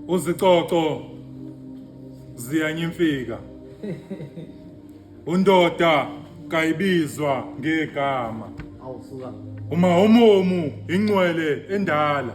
uzicoco ziyanyimfika undoda kayibizwa ngegama awusuka uma umumu ingcwele endala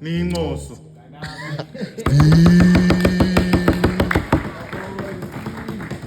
niyincoso